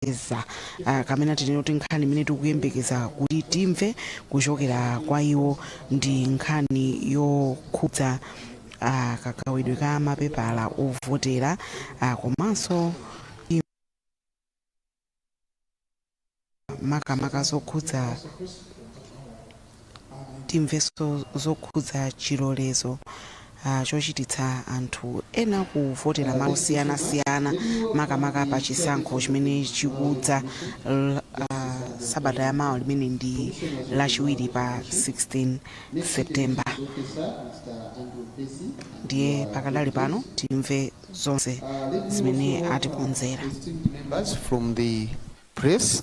kuteteza ah, kamene tinene kuti nkhani imene tikuyembekeza kuti timve kuchokera kwa iwo ndi nkhani yokhudza ah, kagawidwe ka mapepala ovotera ah, komanso im- makamaka zokhudza Timvenso zokhudza chilolezo ah, chochititsa anthu ena kuvotera malo osiyanasiyana makamaka pa chisankho chimene chikudza l- ah, sabata ya mawa limene ndi lachiwiri pa 16 september ndiye pakadali pano timve zonse zimene atikonzera Members from the press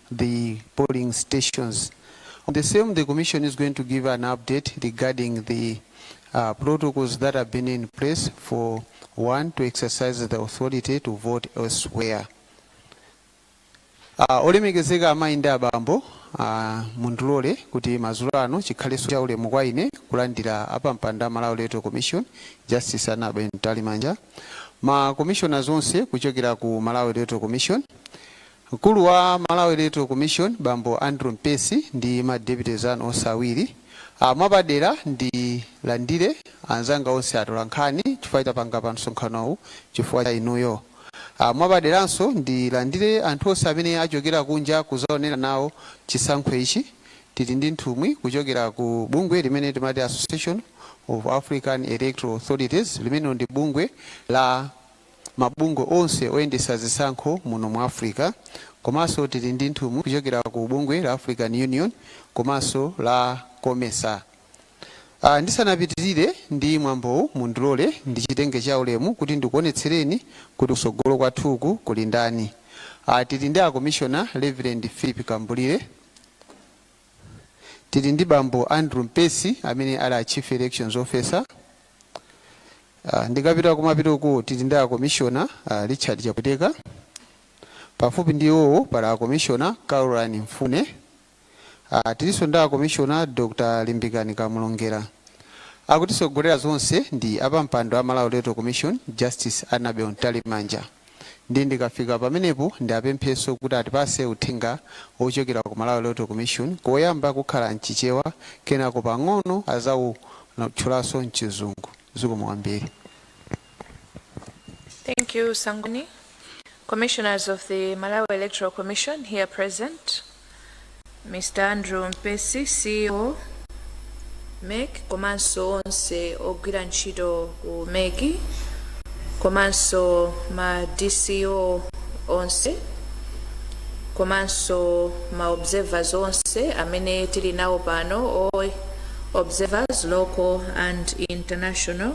the polling stations. On the same, the Commission is going to give an update regarding the uh, protocols that have been in place for one to exercise the authority to vote elsewhere. Uh, olemekezeka amayi ndi abambo uh, mundilole kuti madzulo ano chikhalenso cha ulemu kwa ine kulandira apampando a Malawi Electoral Commission Justice Annabel Mtalimanja ma commissioners onse kuchokera ku Malawi Electoral Commission Mkulu wa Malawi Electoral Commission bambo Andrew Mpesi ndi ma deputies anu onse awiri ah mwapadera ndilandire anzanga onse atolankhani chifukwa tapanga msonkhanowu chifukwa cha inuyo. Ah mwapaderanso ndilandire anthu onse amene achokera kunja kuzaonera nawo chisankho ichi. Tili ndi nthumwi kuchokera ku bungwe limene timati Association of African Electoral Authorities limene ndi bungwe la. mabungwe onse oyendetsa zisankho muno mu Africa komanso tili ndi nthumwi kuchokera ku bungwe la African Union komanso la Comesa. Ah, ndisanapitirire ndi mwambowu mundilole ndichitenge cha ulemu kuti ndikuonetsereni kuti kusogolo kwathuku kuli ndani. Ah, tili ndi akomishona Reverend Philip Kambulire, tili ndi bambo Andrew Mpesi amene ali a Chief Elections Officer, Uh, ndikapita kumapeto uku tili ndi akomishona uh, Richard Chapweteka pafupi ndi iwowo pali akomishona Caroline Mfune uh, tilinso ndi akomishona Dr. Limbikani Kamulongera akutisogolera zonse ndi apampando a Malawi Electoral Commission Justice Annabel Mtalimanja Ndiye ndikafika pamenepo ndiapempheso kuti atipase uthenga ochokera ku Malawi Electoral Commission koyamba kukhala mchichewa kenako pang'ono azawutchulanso mchizungu. Zikomo kwambiri. Thank you, Sangoni. Commissioners of the Malawi Electoral Commission here present. Mr Andrew Mpesi, CEO, mec komanso onse ogwira ntchito ku mec komanso ma DCO onse komanso ma observers onse amene tili nawo pano all observers local and international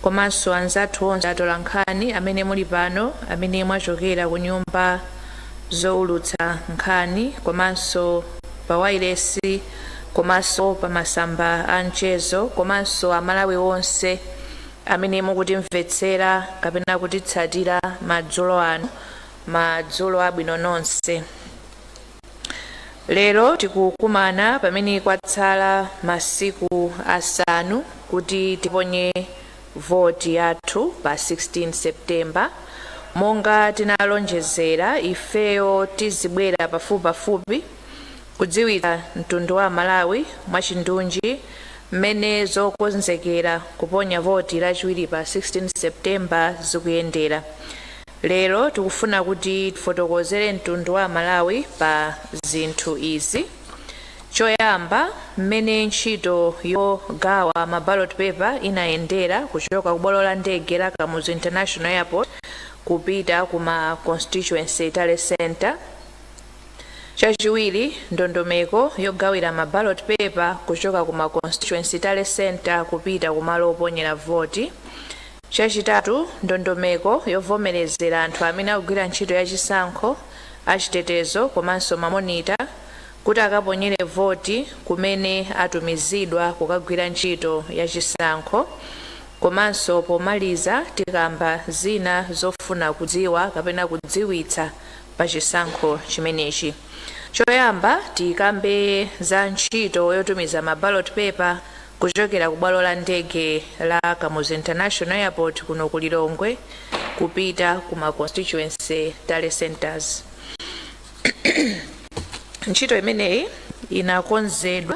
komanso anzathu onse atolankhani amene muli pano amene mwachokera ku nyumba zoulutsa nkhani komanso pa wailesi komanso pa masamba a mchezo komanso amalawi onse amene mukutimvetsera kapena kutitsatira madzulo ano madzulo abwino nonse lero tikukumana pamene kwatsala masiku asanu kuti tiponye voti yathu pa 16 September monga tinalonjezera ifeyo tizibwera pafupipafupi kudziwitsa mtundu wa amalawi mwachindunji mmene zokonzekera kuponya voti lachiwiri pa 16 September zikuyendera. Lero tikufuna kuti tifotokozere mtundu wa amalawi pa zinthu izi. Choyamba, mmene ntchito yogawa ma ballot paper inayendera kuchoka ku bwalo la ndege la Kamuzu International Airport kupita ku ma Constituency Tally Centre. Chachiwiri, ndondomeko yogawira ma ballot paper kuchoka ku ma Constituency Tally Centre kupita ku malo oponyera voti. Chachitatu, ndondomeko yovomerezera anthu amene akugwira ntchito ya chisankho, achitetezo komanso ma monitor, kuti akaponyere voti kumene atumizidwa kukagwira ntchito ya chisankho komanso pomaliza tikamba zina zofuna kudziwa kapena kudziwitsa pa chisankho chimenechi. Choyamba tikambe za ntchito yotumiza ma ballot paper kuchokera ku bwalo la ndege la Kamuzu International Airport kuno ku Lilongwe kupita ku ma constituency tally centres. ntchito imeneyi inakonzedwa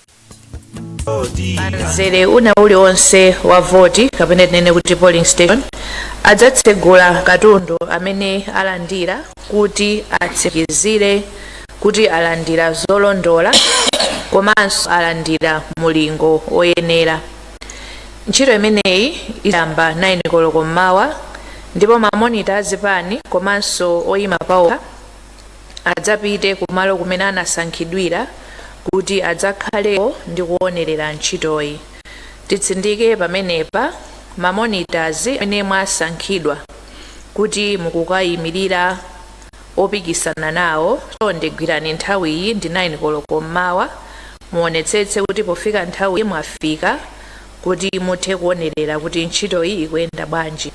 mzere wina uliwonse wa voti kapena tinene kuti polling station adzatsegula katundu amene alandira kuti atsimikizire kuti alandira zolondola komanso alandira mulingo woyenera ntchito imeneyi idzayamba 9 koloko mmawa ndipo mamonita azipani komanso oyima paokha adzapite kumalo kumene anasankhidwira kuti adzakhaleko ndi kuonerera ntchitoyi. Titsindike pamenepa, ma monitors amene mwasankhidwa kuti mukukayimirira opikisana nawo, chonde gwirani nthawiyi ndi 9 koloko mmawa. Muonetsetse kuti pofika nthawiyi mwafika kuti muthe kuonerera kuti ntchitoyi ikuyenda bwanji.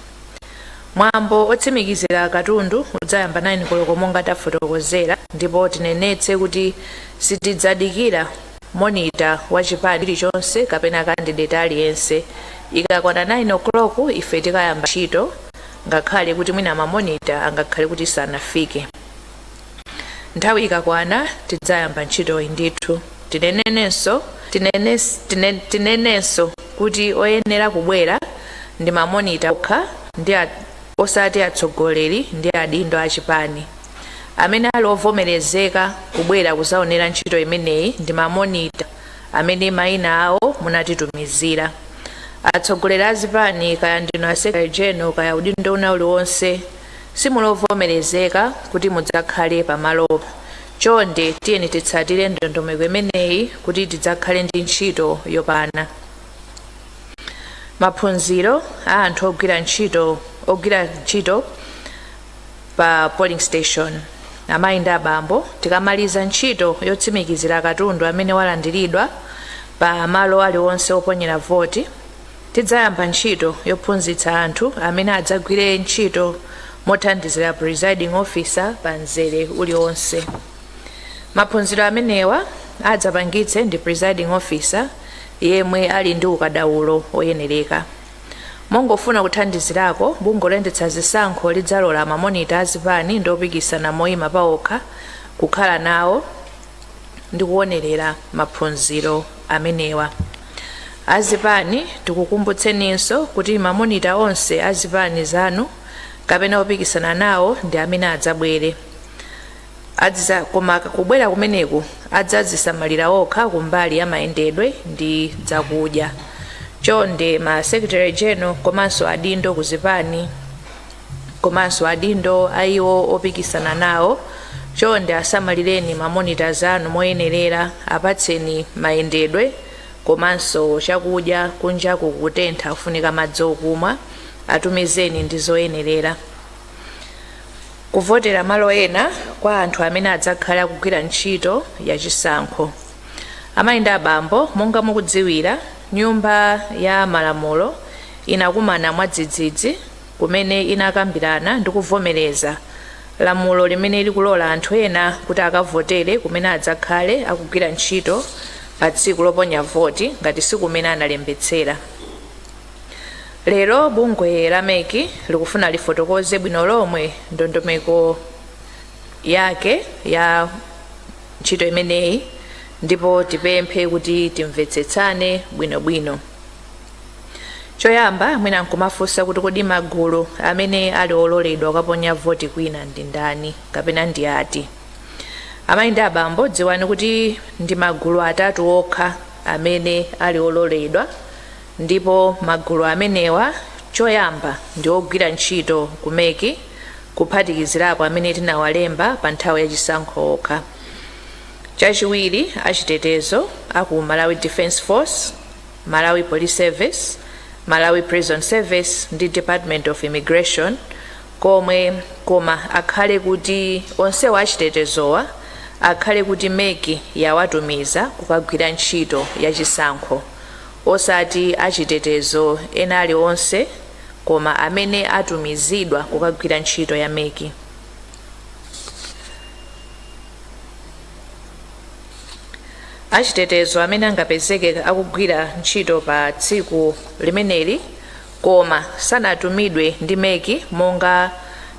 Mwambo otsimikizira katundu udzayamba 9 koloko monga tafotokozera ndipo tinenetse kuti sitidzadikira monitor wa chipani chilichonse kapena candidate aliyense. Ikakwana 9 o'clock ife tikayamba ntchito ngakhale kuti mwina ma monitor angakhale kuti sanafike. Nthawi ikakwana tidzayamba ntchitoyi ndithu. Tinenenso kuti oyenera kubwera ndi mamonita okha ndi a, osati atsogoleri ndi adindo a chipani. Amene ali ovomerezeka kubwera kuzaonera ntchito imeneyi ndi mamonita amene maina awo munatitumizira. Atsogoleri a zipani kaya ndinu a secretary general kaya udindo una uliwonse Simuli ovomerezeka kuti mudzakhale pamalopa. Chonde tiyeni titsatire ndondomeko imeneyi kuti tidzakhale ndi ntchito yopana. Maphunziro a anthu ogwira ntchito ogwira ntchito pa polling station. Amayi ndi abambo, tikamaliza ntchito yotsimikizira katundu amene walandiridwa pa malo aliwonse oponyera voti, Tidzayamba ntchito yophunzitsa anthu amene adzagwire ntchito mothandizira Presiding Officer pa mzere uliwonse. Maphunziro amenewa adzapangitse ndi Presiding Officer yemwe ali ndi ukadaulo oyenereka. Mongofuna kuthandizirako, bungwe loyendetsa zisankho lidzalola ma monitor a zipani ndi opikisana moyima paokha kukhala nawo ndi kuwonelera maphunziro amenewa. Azipani tikukumbutseninso kuti ma monitor onse a zipani zanu kapena opikisana nawo ndi amene adzabwere. Adziza, koma kubwera kumeneku adzazisamalira okha kumbali ya mayendedwe ndi zakudya. Chonde ma Secretary General komanso adindo ku zipani. komanso adindo a iwo opikisana nawo chonde asamalireni ma monitors anu moyenerera apatseni mayendedwe komanso chakudya kunjaku kutentha kufunika madzi okumwa atumizeni ndi zoyenerera kuvotera malo ena kwa anthu amene adzakhale akugwira ntchito ya chisankho Amayi ndi abambo, monga mukudziwira, Nyumba ya Malamulo inakumana mwadzidzidzi kumene inakambirana ndi kuvomereza lamulo limene likulola anthu ena kuti akavotere kumene adzakhale akugwira ntchito pa tsiku loponya voti ngati si kumene analembetsera. Lero bungwe la MEC likufuna lifotokoze bwino lomwe ndondomeko yake ya ntchito imeneyi ndipo tipemphe kuti timvetsetsane bwinobwino choyamba mwina nkumafunsa kuti kodi magulu amene ali ololedwa kukaponya voti kwina ndi ndani kapena ndi ati amayi ndi abambo dziwani kuti ndi magulu atatu okha amene ali ololedwa Ndipo magulu amenewa choyamba ndi ogwira ntchito ku MEC kuphatikizirapo amene tinawalemba pa nthawi ya chisankho okha. Chachiwiri achitetezo a ku Malawi Defence Force, Malawi Police Service, Malawi Prison Service ndi Department of Immigration komwe koma akhale kuti onsewa achitetezowa akhale kuti MEC yawatumiza kukagwira ntchito ya chisankho. osati achitetezo ena alionse koma amene atumizidwa kukagwira ntchito ya MEC. Achitetezo amene angapezeke akugwira ntchito pa tsiku limeneli Koma sanatumidwe ndi MEC monga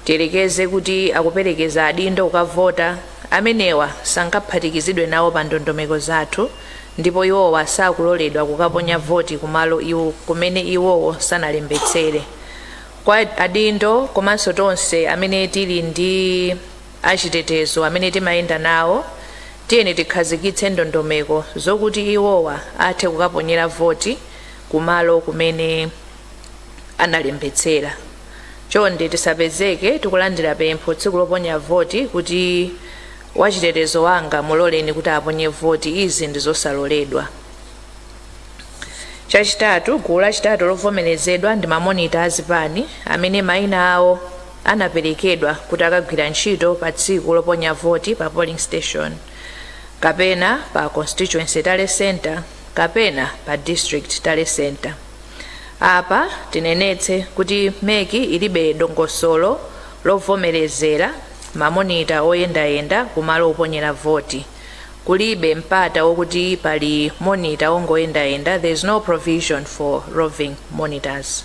tiyerekeze kuti akuperekeza adindo kukavota, amenewa sangaphatikizidwe nawo pa ndondomeko zathu ndipo iwowa sakuloledwa kukaponya voti kumalo kumene iwowo sanalembetsere. Kwa adindo komanso tonse amene tili ndi achitetezo amene timayenda nawo, tiyeni tikhazikitse ndondomeko zokuti iwowa athe kukaponyera voti, kumalo kumene analembetsera chonde tisapezeke tikulandira pempho tsiku loponya voti kuti wachitetezo wanga muloleni kuti aponye voti izi ndi zosaloledwa chachitatu gulu lachitatu lovomerezedwa ndi mamonita azipani amene mayina awo anaperekedwa kuti akagwira ntchito pa tsiku loponya voti pa polling station kapena pa constituency tally center kapena pa district tally centre. Apa tinenetse kuti MEC ilibe dongosolo lovomerezera mamonita oyendayenda kumalo oponyera voti. Kulibe mpata wokuti pali monita wongoyendayenda, there is no provision for roving monitors.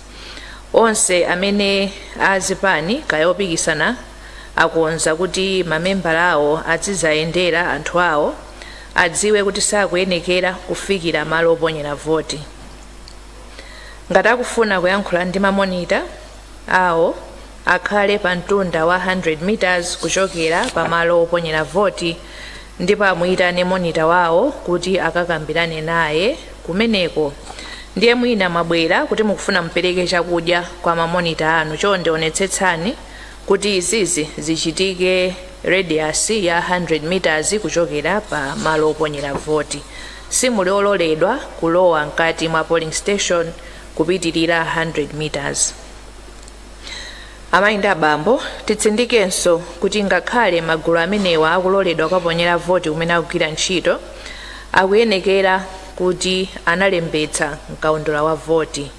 Onse amene a zipani kaya opikisana akonza kuti mamembala awo adziziyendera anthu awo adziwe kuti sakuyenekera kufikira malo oponyera voti. Ngati akufuna kuyankhula ndi ma monitor awo akhale pa mtunda wa 100 meters kuchokera pa malo oponyera voti ndipo amuyitane monitor wawo kuti akakambirane naye kumeneko. Ndiye mwina mwabwera kuti mukufuna mupereke chakudya kwa ma monitor anu, chonde onetsetsani Kuti izizi zichitike radius ya 100 meters kuchokera pa malo oponyera voti. Simuli ololedwa kulowa mkati mwa polling station kupitilira 100 meters. Amayi ndi abambo, titsindikenso kuti ngakhale magulu amenewa akuloledwa kukaponyera voti kumene akugwira ntchito, akuyenekera kuti analembetsa mkaundula wa voti.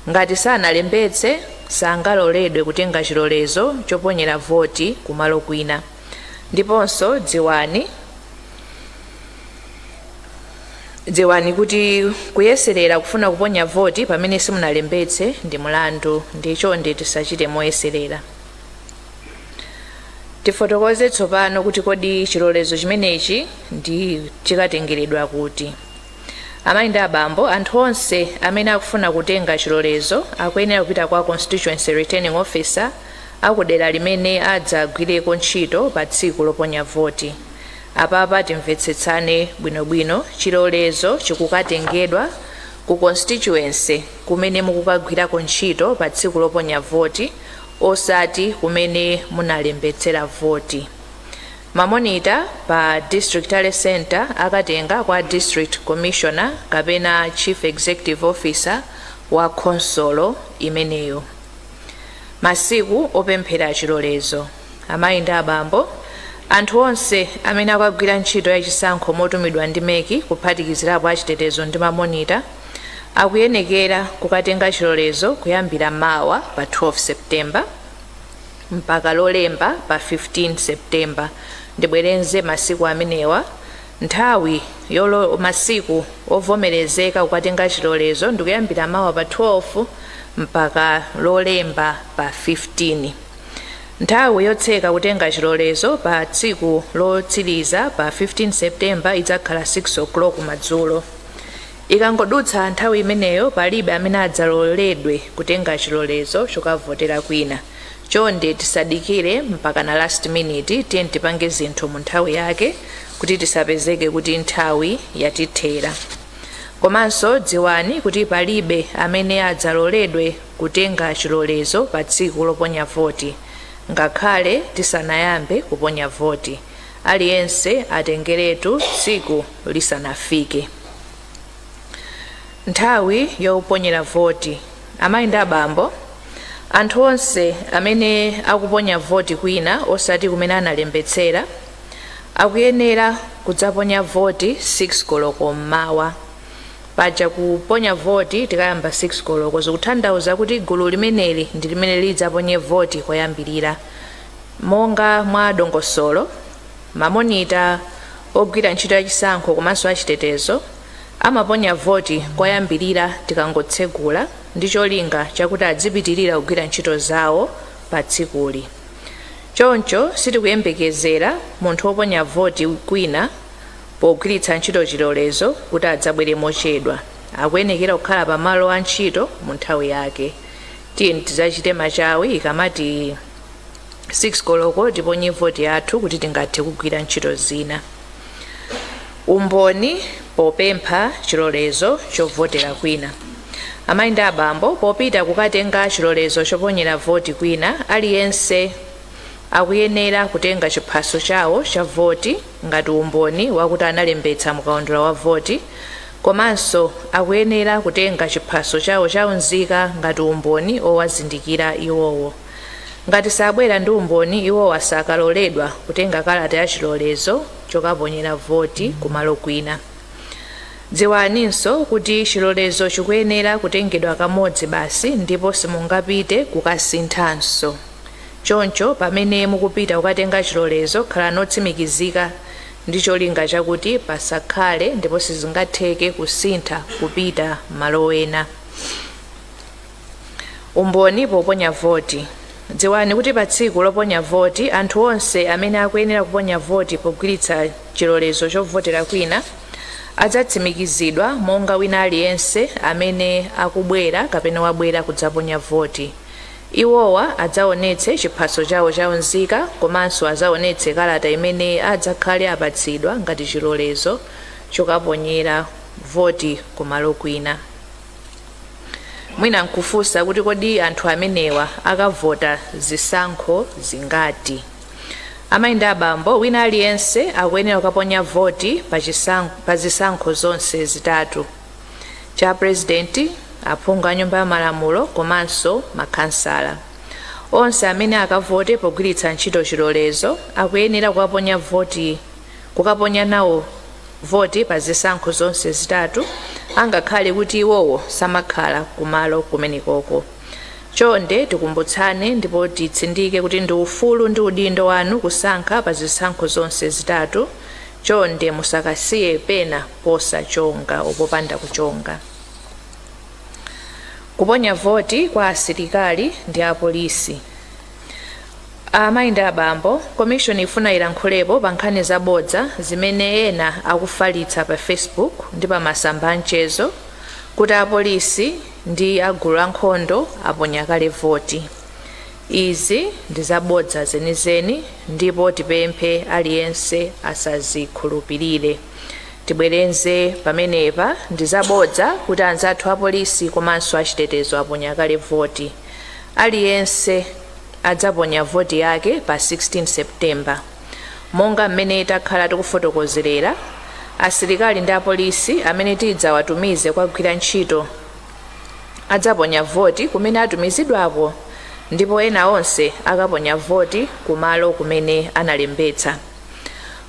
Ngati sanalembetse, sangaloledwe kutenga chilolezo choponyera voti kumalo kwina. Ndiponso dziwani Dziwani kuti kuyeserera kufuna kuponya voti pamene simunalembetse ndi mulandu ndiye chonde tisachite moyeserera. Tifotokoze tsopano kuti kodi chilolezo chimenechi ndi chikatengeredwa kuti. Amayi ndi abambo, anthu onse amene akufuna kutenga chilolezo akuyenera kupita kwa Constituency Returning Officer a ku dera limene adzagwireko ntchito pa tsiku loponya voti. Apapa timvetsetsane bwinobwino, chilolezo chikukatengedwa ku Constituency kumene mukukagwirako ntchito pa tsiku loponya voti osati kumene munalembetsera voti. Ma monitor pa District Tally Centre akatenga kwa District Commissioner kapena Chief Executive Officer wa khonsolo imeneyo. Masiku opemphera chilolezo. Amayi ndi abambo, anthu onse amene akagwira ntchito ya chisankho motumidwa ndi MEC kuphatikizirapo a chitetezo ndi ma monitor, akuyenekera kukatenga chilolezo kuyambira mawa pa 12 September. mpaka Lolemba pa 15 September. Ndibwereze masiku amenewa, Nthawi yolo masiku ovomerezeka kukatenga chilolezo ndikuyambira mawa pa 12 mpaka Lolemba pa 15. Nthawi yotseka kutenga chilolezo pa tsiku lotsiriza pa 15 September idzakhala 6:00 madzulo. Ikangodutsa nthawi imeneyo, palibe amene adzaloledwe kutenga chilolezo chokavotera kwina. Chonde tisadikire mpakana last minute, tiyeni tipange zinthu mu nthawi yake kuti tisapezeke kuti nthawi yatithera. Komanso dziwani kuti palibe amene adzaloledwe kutenga chilolezo pa tsiku loponya voti ngakhale tisanayambe kuponya voti. aliyense atengeretu tsiku lisanafike nthawi yoponyera voti amayi ndi abambo anthu onse amene akuponya voti kwina osati kumene analembetsera akuyenera kudzaponya voti 6 koloko mmawa paja kuponya voti tikayamba 6 koloko zikutanthauza kuti gulu limeneli ndi limene lidzaponye voti koyambirira Monga mwa dongosolo, mamonita ogwira ntchito ya chisankho komanso a chitetezo amaponya voti koyambirira tikangotsegula ndi cholinga chakuti adzipitirira kugwira ntchito zawo pa tsikuli. Choncho sitikuyembekezera munthu woponya voti kwina pogwiritsa ntchito chilolezo kuti adzabwere mochedwa. Akuyenekera kukhala pamalo a ntchito mu nthawi yake. Tiyeni tidzachite machawi ikamati. 6 koloko tiponye voti yathu kuti tingathe kugwira ntchito zina umboni popempha chilolezo chovotera kwina amayi ndi abambo popita kukatenga chilolezo choponyera voti kwina aliyense akuyenera kutenga chiphaso chawo cha voti ngati umboni wakuti analembetsa mukaundula wa voti komanso akuyenera kutenga chiphaso chawo cha unzika ngati umboni owazindikira iwowo. Ngati sabwera ndi umboni iwowa sakaloledwa kutenga kalata ya chilolezo chokaponyera voti kumalo kwina. Dziwaninso kuti chilolezo chikuyenera kutengedwa kamodzi basi ndipo simungapite kukasinthanso. Choncho pamene mukupita kukatenga chilolezo, khalani otsimikizika ndi cholinga chakuti pasakhale ndipo sizingatheke kusintha kupita malo ena. Umboni poponya voti. Dziwani kuti pa tsiku loponya voti, anthu onse amene akuyenera kuponya voti pogwiritsa chilolezo chovotera kwina adzatsimikizidwa monga wina aliyense amene akubwera kapena wabwera kudzaponya voti. Iwowa adzaonetse chiphaso chawo cha unzika komanso adzaonetse kalata imene adzakhale apatsidwa ngati chilolezo chokaponyera voti ku malo kwina. Mwina nkufunsa kuti kodi anthu amenewa akavota zisankho zingati? Amayi ndi abambo, wina aliyense akuyenera kukaponya voti pa zisankho zonse zitatu. cha purezidenti, aphungu a Nyumba ya Malamulo komanso makhansala. Onse amene akavote pogwiritsa ntchito chilolezo akuyenera kukaponya nawo voti pa zisankho zonse zitatu angakhale kuti iwowo samakhala kumalo kumenekoko. Chonde tikumbutsane ndipo titsindike kuti ndi ufulu ndi udindo wanu kusankha pa zisankho zonse zitatu. Chonde musakasiye pena posachonga popanda kuchonga kuponya voti kwa asilikali ndi apolisi amayi ndi abambo komishoni ifuna ilankhulepo pa nkhani zabodza zimene ena akufalitsa pa facebook ndi pa masamba amchezo kuti apolisi ndi agulu ankhondo aponya kale voti izi ndi zabodza zenizeni ndipo tipemphe aliyense asazikhulupirire tibwereze pamenepa ndi zabodza kuti anzathu apolisi komanso achitetezo aponya kale voti aliyense adzaponya voti yake pa 16 september monga mmene takhala tikufotokozerera asilikali ndi apolisi amene tidzawatumize kukagwira ntchito adzaponya voti kumene atumizidwako ndipo ena onse akaponya voti kumalo kumene analembetsa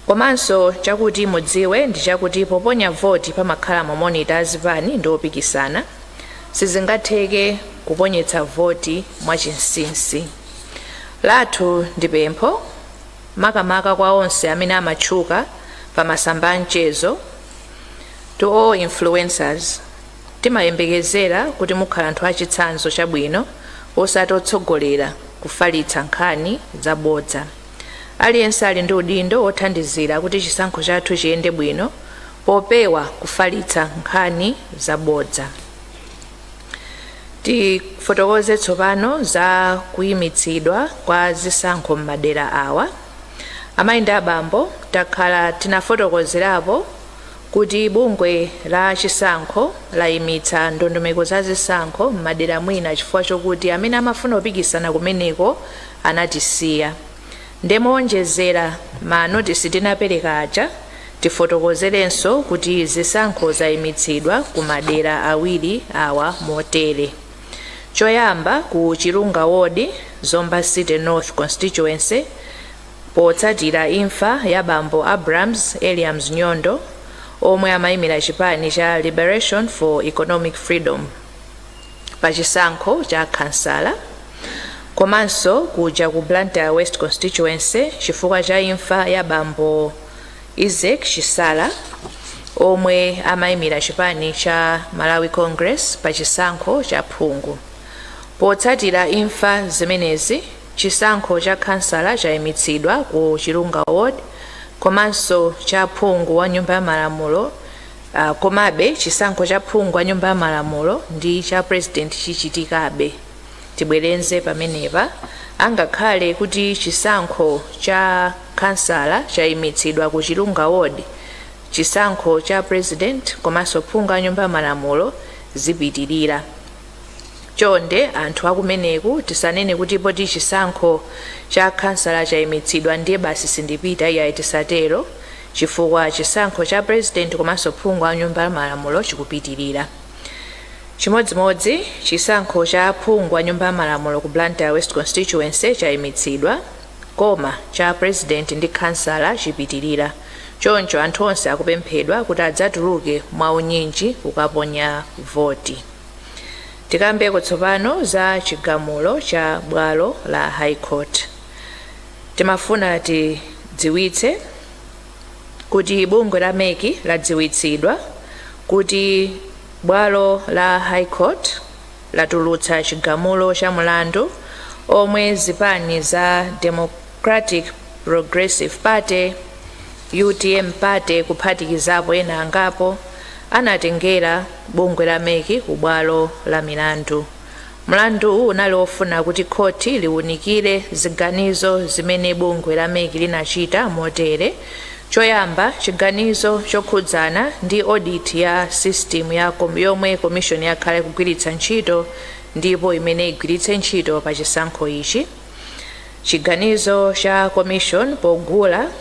Komanso chakuti mudziwe ndi chakuti poponya voti pamakhala ma monitor a zipani ndi opikisana. Sizingatheke kuponyetsa voti mwa chinsinsi. Lathu ndi pempho makamaka kwa onse amene amatchuka pa masamba a mchezo, to all influencers, timayembekezera kuti mukhala anthu a chitsanzo chabwino osati otsogolera kufalitsa nkhani za bodza. Aliyense ali ndi udindo wothandizira kuti chisankho chathu chiyende bwino popewa kufalitsa nkhani zabodza. Tifotokoze tsopano za kuyimitsidwa kwa zisankho m'madera awa. Amayi ndi abambo takhala tinafotokozerapo kuti bungwe la chisankho layimitsa ndondomeko za zisankho m'madera mwina chifukwa chokuti amene amafuna kupikisana kumeneko anatisiya nde moonjezera ma notice tinapereka aja tifotokozerenso kuti zisankho zaimitsidwa ku madera awiri awa motere choyamba ku chirunga ward zomba city north constituency potsatira imfa ya bambo abrams eliams nyondo omwe amayimira chipani cha liberation for economic freedom pa chisankho cha khansala komanso kuja ku Blantyre West Constituency chifukwa cha imfa ya bambo Isaac Chisala omwe amaimira chipani cha Malawi Congress pa chisankho cha phungu. Potsatira imfa zimenezi, chisankho cha khansala chaimitsidwa ku Chilunga Ward komanso cha phungu wa Nyumba ya Malamulo Komabe, chisankho cha phungu wa Nyumba ya Malamulo ndi cha pulezidenti chichitikabe. Tibwereze pamenepa, angakhale kuti chisankho cha khansala chaimitsidwa ku Chilunga Ward, chisankho cha pulezidenti komanso phungu wa Nyumba ya Malamulo zipitirira. Chonde anthu akumeneku tisanene kuti poti chisankho cha khansala chaimitsidwa ndiye basi sindipita, iyayi tisatero. chifukwa chisankho cha President komanso phungu wa nyumba ya malamulo chikupitilira. Chimodzimodzi chisankho cha phungu wa nyumba ya malamulo ku Blantyre West Constituency chaimitsidwa koma cha President ndi khansala chipitilira choncho anthu onse akupemphedwa kuti adzatuluke mwa unyinji kukaponya voti. Tikambeko tsopano za chigamulo cha bwalo la High Court. Timafuna tidziwitse kuti bungwe la mec ladziwitsidwa kuti bwalo la High Court latulutsa chigamulo cha mulandu omwe zipani za Democratic Progressive Party, utm Party kuphatikizapo ena angapo anatengera bungwe la mec ku bwalo la milandu Mlanduwu unali wofuna kuti khoti liunikire ziganizo zimene bungwe la mec linachita motere, Choyamba, chiganizo chokhudzana ndi oditi ya sisitimu yomwe komishoni yakhala ikugwiritsa ntchito ndipo imene igwiritse ntchito pa chisankho ichi, chiganizo cha komishoni pogula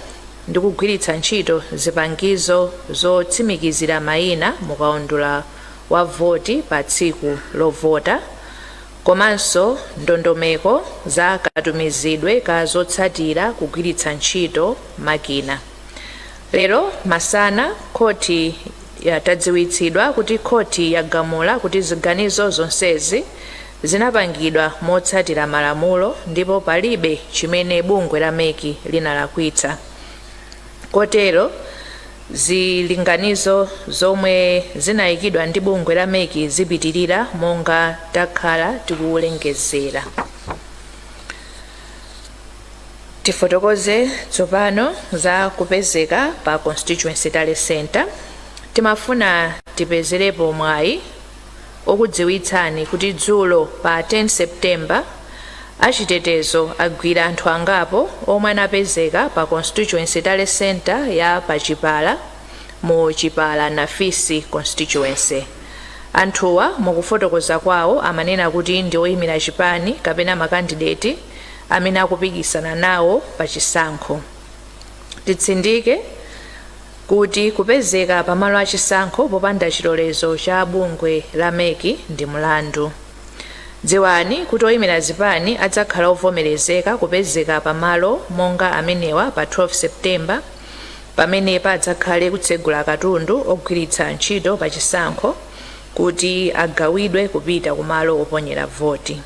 ndi kugwiritsa ntchito zipangizo zotsimikizira mayina mukaundula wa voti pa tsiku lovota komanso ndondomeko za katumizidwe ka zotsatira kugwiritsa ntchito makina. Lero masana khoti yatadziwitsidwa kuti khoti yagamula kuti ziganizo zonsezi zinapangidwa motsatira malamulo ndipo palibe chimene bungwe la mec linalakwitsa. Kotero Zilinganizo zomwe zinayikidwa ndi bungwe la mec zipitilira monga takhala tikulengezera. Tifotokoze tsopano za kupezeka pa Constituency Tally Centre. Timafuna tipezerepo mwayi okudziwitsani kuti dzulo pa 10 September achitetezo agwira anthu angapo omwe anapezeka pa Constituency Tally Centre ya pa Chipala mu Chipala-Nafisi Constituency. Anthuwa mukufotokoza kwawo amanena kuti ndi oyimira chipani kapena makandideti amene akupikisana nawo pa chisankho. Titsindike kuti kupezeka pa malo a chisankho popanda chilolezo cha bungwe la MEC ndi mlandu. Dziwani kuti oyimira zipani adzakhala ovomerezeka kupezeka pa malo monga amenewa pa 12 September pamene padzakhale kutsegula katundu ogwiritsa ntchito pa chisankho kuti agawidwe kupita ku malo oponyera voti.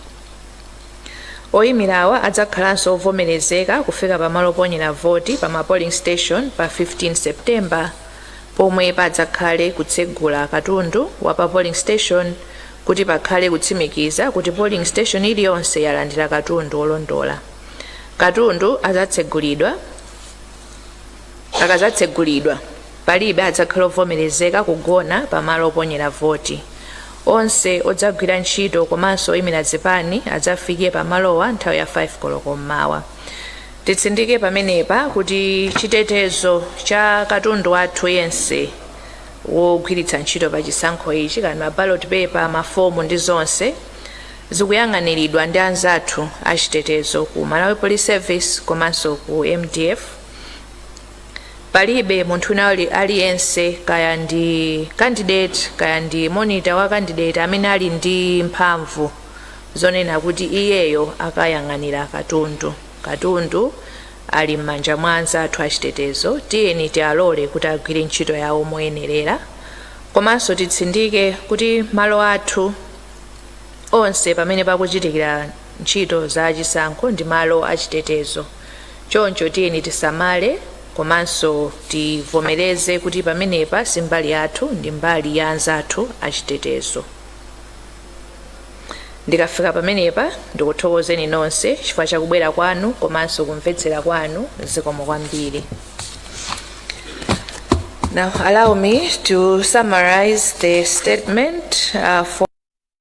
Oyimirawa adzakhalanso ovomerezeka kufika pa malo oponyera voti pa ma polling station pa 15 September pomwe padzakhale kutsegula katundu wa pa polling station kuti pakhale kutsimikiza kuti polling station iliyonse yalandira katundu olondola. Katundu adzatsegulidwa. Akadzatsegulidwa, palibe adzakhala ovomerezeka kugona pa malo oponyera voti. Onse odzagwira ntchito komanso oyimira zipani adzafike pa malowa nthawi ya 5 koloko m'mawa. Titsindike pamenepa kuti chitetezo cha katundu wathu yense wogwiritsa ntchito pa chisankho ichi, kaya ndi ma ballot paper, mafomu ndi zonse, zikuyang'aniridwa ndi anzathu a chitetezo ku Malawi Police Service komanso ku MDF. palibe munthu wina ali- aliyense kaya ndi candidate kaya ndi monitor wa candidate amene ali ndi mphamvu zonena kuti iyeyo akayang'anira katundu katundu ali m'manja mwa anzathu achitetezo tiyeni tialole kuti agwire ntchito yawo moyenerera komanso titsindike kuti malo athu onse pamene pakuchitikira ntchito za chisankho ndi malo achitetezo Choncho tiyeni tisamale komanso tivomereze kuti pamenepa si mbali yathu, ndi mbali ya anzathu achitetezo. Ndikafika pamenepa, ndikuthokozeni nonse chifukwa cha kubwera kwanu komanso kumvetsera kwanu. Zikomo kwambiri. Now, allow me to summarize the statement uh, for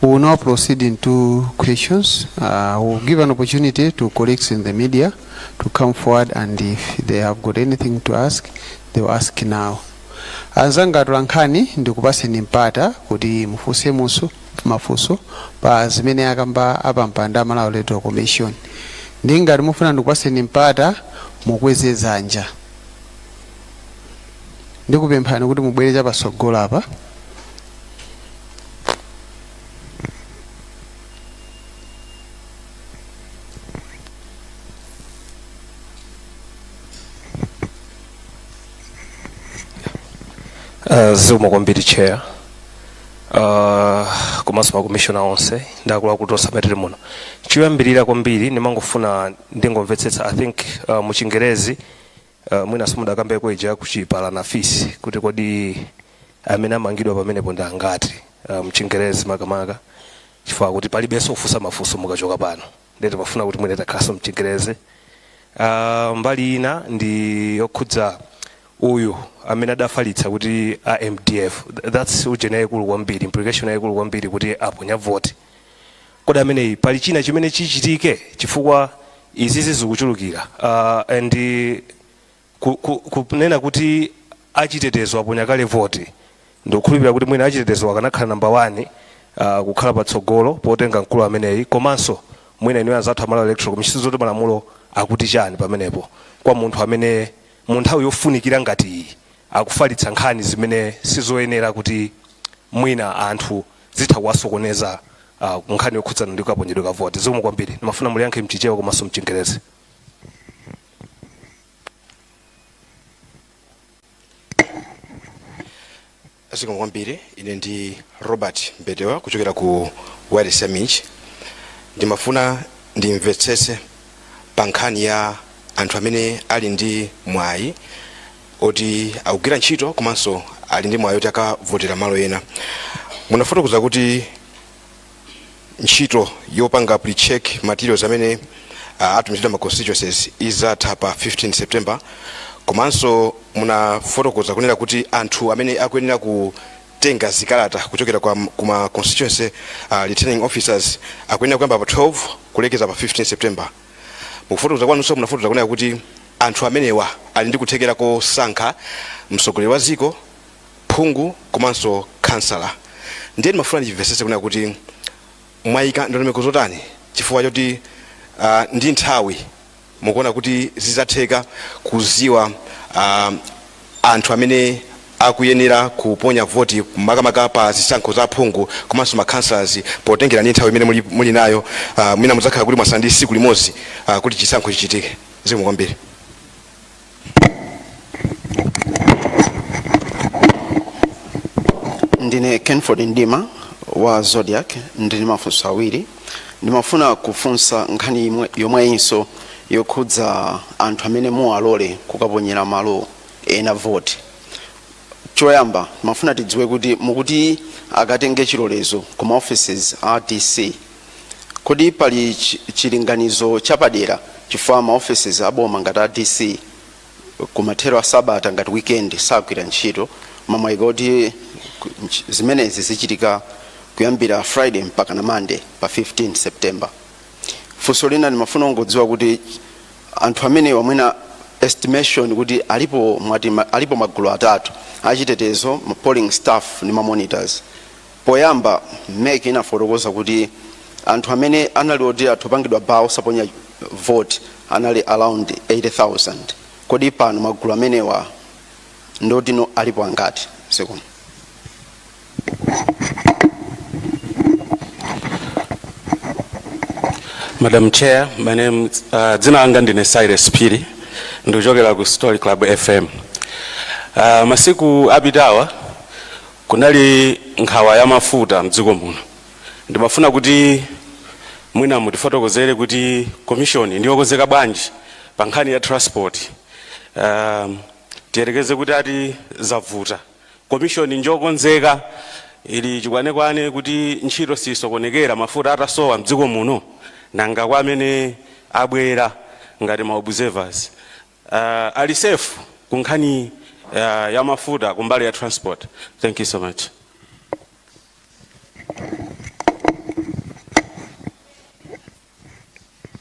We will now proceed into questions. Uh, we'll give an opportunity to colleagues in the media to come forward and if they have got anything to ask, they will ask now. anzanga atolankhani ndikupaseni mpata kuti mufunse muso mafunso pa zimene akamba apampando a Malawi Electoral Commission ndi ngati mufuna ndikupaseni mpata mukweze dzanja ndikupemphani kuti mubwere chapatsogolo apa Uh, zikomo kwambiri chair uh, komanso makomishona onse ndi akuluakulu onse amene tili muno choyambirira kwambiri ndimangofuna ndingomvetsetsa i think uh, mu chingerezi Uh, mwina simudakambeko ija ya kuchipatala ndi fisi kuti kodi amene amangidwa pamenepo ndi angati uh, mchingerezi makamaka chifukwa kuti palibenso kufunsa mafunso mukachoka pano ndiye timafuna kuti mwina takhalanso mchingerezi uh, mbali ina ndi yokhudza uyu amene adafalitsa kuti a mdf Th- that's ujeni yayikulu kwambiri implication yayikulu kwambiri kuti aponya voti kodi ameneyi pali china chimene chichitike chifukwa izizi zikuchulukira uh, and ku- ku- kunena kuti achitetezo aponya kale voti ndikukhulupirira kuti mwina achitetezo akanakhala nambala 1 uh, kukhala patsogolo potenga mkulu ameneyi komanso mwina inuyo anzathu a Malawi electoral commission zoti malamulo akuti chani pamenepo kwa munthu amene mu nthawi yofunikira ngati iyi akufalitsa nkhani zimene sizoyenera kuti mwina anthu zitha kuwasokoneza pa nkhani yokhudzana ndi kaponyedwe ka voti. Zikomo kwambiri. Ndimafuna muliyankhe mchichewa komanso mchingerezi. zikomo kwambiri ine ndi robert mbetewa kuchokera ku wireless ya MIJ ndimafuna ndimvetsetse pa nkhani ya anthu amene ali ndi mwayi oti akugwira ntchito komanso ali ndi mwayi oti akavotera malo ena munafotokoza kuti ntchito yopanga pre-check materials amene uh, atumizidwa m'ma constituencies izatha pa 15 september komanso munafotokoza kunena kuti anthu amene akuyenera kutenga zikalata kuchokera kwa kuma constituency uh, returning officers akuyenera kuyamba pa 12 kulekeza pa 15 september Mukufotokoza kwanunso munafotokoza kunena kuti anthu amenewa ali ndi kuthekera kosankha mtsogoleri wa dziko, phungu komanso khansala. Ndiye ndimafuna ndimvetsetse kunena kuti mwayika ndondomeko zotani chifukwa choti ah, ndi nthawi mukuona kuti zidzatheka kudziwa ah, anthu amene akuyenera kuponya voti makamaka pa zisankho za aphungu komanso ma councillors potengera ndi nthawi imene muli, muli nayo uh, mwina mudzakhala kuti mwasala ndi siku limodzi uh, kuti chisankho chichitike zikomo kwambiri ndine kenford mdima wa zodiac ndili mafunso awiri ndimafuna kufunsa nkhani imwe- yomweyinso yokhudza anthu amene muwalole kukaponyera malo ena voti choyamba timafuna tidziwe kuti mukuti akatenge chilolezo ku maoffices a dc kodi pali chi- chilinganizo chapadera chifukwa maoffices a boma ngati a dc kumathero a sabata ngati weekend sagwira ntchito mmene mwaika kuti ku- nch- zimenezi zichitika kuyambira friday mpaka na monday pa 15 september funso lina ndimafuna kungodziwa kuti anthu amenewa mwina estimation kuti alipo mwati ma- alipo magulu atatu achitetezo ma polling staff ndi ma monitors Poyamba mec inafotokoza kuti anthu amene anali oti atha kupangidwa bar osaponya vote anali around 80,000 kodi pano magulu amenewa ndi oti no alipo angati zikomo. Madam Chair, my name uh, dzina langa ndine Cyrus Phiri ndikuchokera ku Story Club FM. Uh, masiku apitawa Kunali nkhawa ya mafuta mdziko muno. Ndimafuna kuti mwina mutifotokozere kuti commission ndiyokonzeka bwanji pa nkhani ya transport. Um, tiyerekeze kuti ati zavuta. Commission njokonzeka ili chikwanekwane kuti ntchito siyisokonekera mafuta atasowa mdziko muno nanga kwa amene abwera ngati ma observers. uh, ali safe ku nkhani uh, ya mafuta ku mbali ya transport thank you so much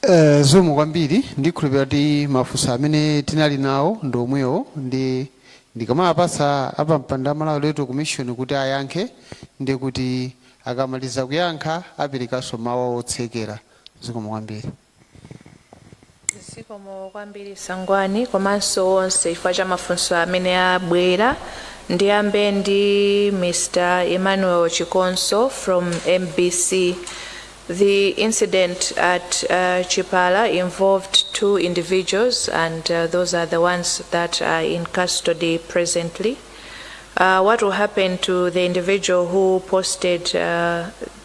Eh, zikomo kwambiri ndikhulupira kuti mafunso amene tinali nawo ndi omwewo ndi ndikanawapatsa apampando a malawi electoral commission kuti ayankhe ndi kuti akamaliza kuyankha aperekanso mawu otsekera zikomo kwambiri zikomo kwambiri sangwani komanso onse chifukwa cha mafunso amene abwera ndiyambe ndi mr emmanuel chikonso from mbc the incident at uh, chipala involved two individuals and uh, those are the ones that are in custody presently uh, what will happen to the individual who posted uh,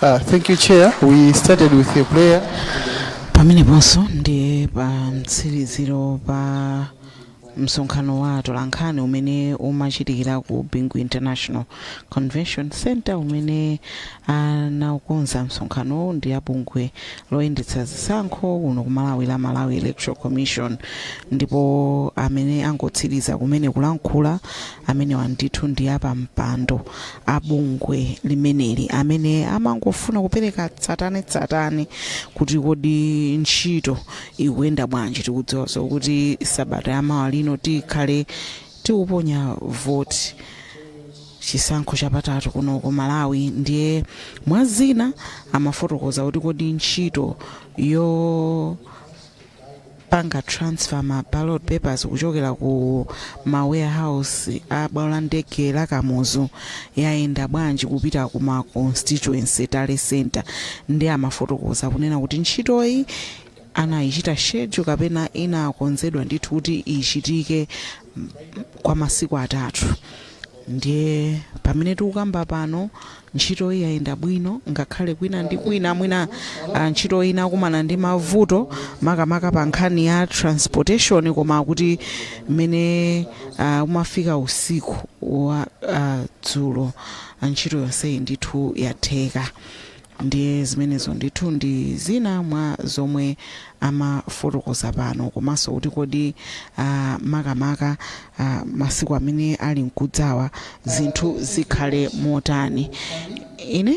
Uh, thank you, Chair. We started with a prayer. pameneponso ndiye pa mtsiriziro pa msonkhano wa atolankhani umene umachitikira ku bingu international convention center umene anaukonza msonkhanowu ndi abungwe loyendetsa zisankho kuno ku malawi la malawi electoral commission ndipo amene angotsiriza kumene kulankhula amenewa ndithu ndi apampando a bungwe limeneli amene amafuna kupereka tsatanetsatane kuti kodi ntchito ikuyenda bwanji tikudziwaso kuti sabata yamawa lino tikhale tikuponya voti chisankho chapatatu kuno ku malawi ndiye mwa zina amafotokoza kuti kodi ntchito yo panga transfer ma ballot papers kuchokera ku ma warehouse a bwalo la ndege la kamuzu yayenda bwanji kupita ku ma constituency tally center ndiye amafotokoza kunena kuti ntchitoyi anayichita schedule kapena inakonzedwa ndithu kuti ichitike mm, kwa masiku atatu ndiye pamene tikukamba pano Ntchitoyi yayenda bwino ngakhale kwina ndi kwina mwina ntchitoyi inakumana ndi mavuto makamaka pa nkhani ya transportation koma kuti mmene umafika usiku wa dzulo ntchito yonseyi ndithu yatheka. Ndiye zimenezo ndithu ndi zina mwa zomwe amafotokoza pano komaso kuti kodi makamaka masiku amene ali nkudzawa zinthu zikhale motani. Ine.